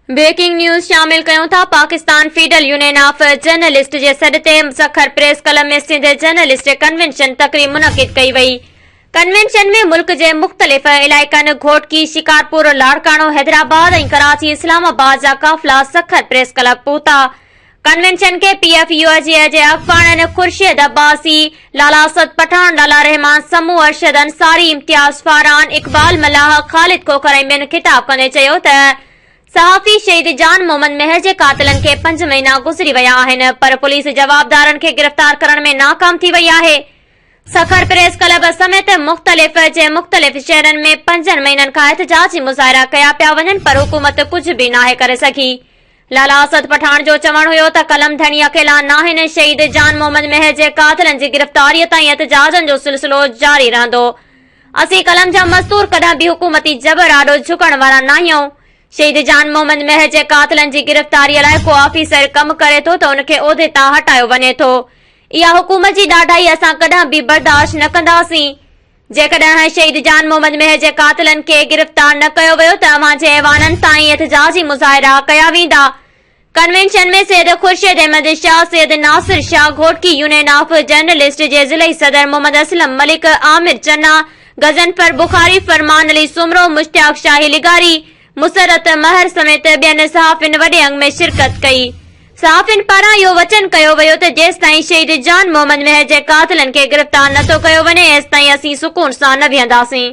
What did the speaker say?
Breaking news شامل ڪيون ٿا Pakistan federal union of journalist جي سڏ تي Sukkur press club ۾ Sindh journalist convention تقريب منعقد ڪئي وئي ڪنوينشن ۾ ملڪ جي مختلف علائقن گهوٽڪي شڪارپور لاڙڪاڻو حيدرآباد ۽ ڪراچي اسلام آباد جا قافلا سکر پريس ڪلب پهتا ڪنوينشن کي پي ايف يو جي اجي افغانن، خورشيد عباسي، لالا اسد پٺاڻ، لالا رحمان سمون، ارشد انصاري، امتياز فاران، اقبال ملاح، خالد کوکر ۽ ٻين خطاب ڪندي چيو ته صحافي شهيد جان محمد مهر جي قاتلن کي پنج مهينا گذري ويا آهن پر پوليس جوابدارن کي گرفتار ڪرڻ ۾ ناڪام ٿي وئي آهي. سکر پريس ڪلب سميت مختلف جي مختلف شهرن ۾ پنجن مهينن کان احتجاجي مظاهرا ڪيا پيا وڃن پر حڪومت ڪجهه به ناهي ڪري سگهي. لالا اسد پٺاڻ جو چوڻ هيو ته قلم ڌڻي اڪيلا ناهن، شهيد جان محمد مهر جي قاتلن جي گرفتاريء تائين احتجاجن جو سلسلو جاري رهندو. اسين قلم جا مزدور ڪڏهن به حڪومتي جبر آڏو جهڪڻ وارا ناهيون. شهيد جان محمد مهر جي قاتلن جي گرفتاريء لاء ڪو آفيسر ڪم ڪري ٿو ته ان کي عهدي تان هٽايو وڃي ٿو. اها حڪومت جي ڏاڍائي اسان ڪڏهن به برداشت نه ڪنداسين. جيڪڏهن شهيد جان محمد مهر جي قاتلن کي گرفتار نه ڪيو ويو ته اوهان جي ايوانن تائين احتجاجي مظاهرا ڪيا ويندا. ڪنوينشن ۾ Syed Khurshid Ahmed Shah, Syed Nasir Shah, Ghotki union of journalist جي ضلعي صدر محمد اسلم ملڪ، عامر چنا، غضنفر بخاري، فرمان علي سومرو، مشتاق شاهي لغاري، مسرت مهر سميت ٻين صحافين وڏي انگ ۾ شرڪت ڪئي صحافين پاران اهو وچن ڪيو ويو ته جيستائين شهيد جان محمد مهر جي قاتلن کي گرفتار نٿو ڪيو وڃي ايستائين اسين سڪون سان نه ويهنداسين.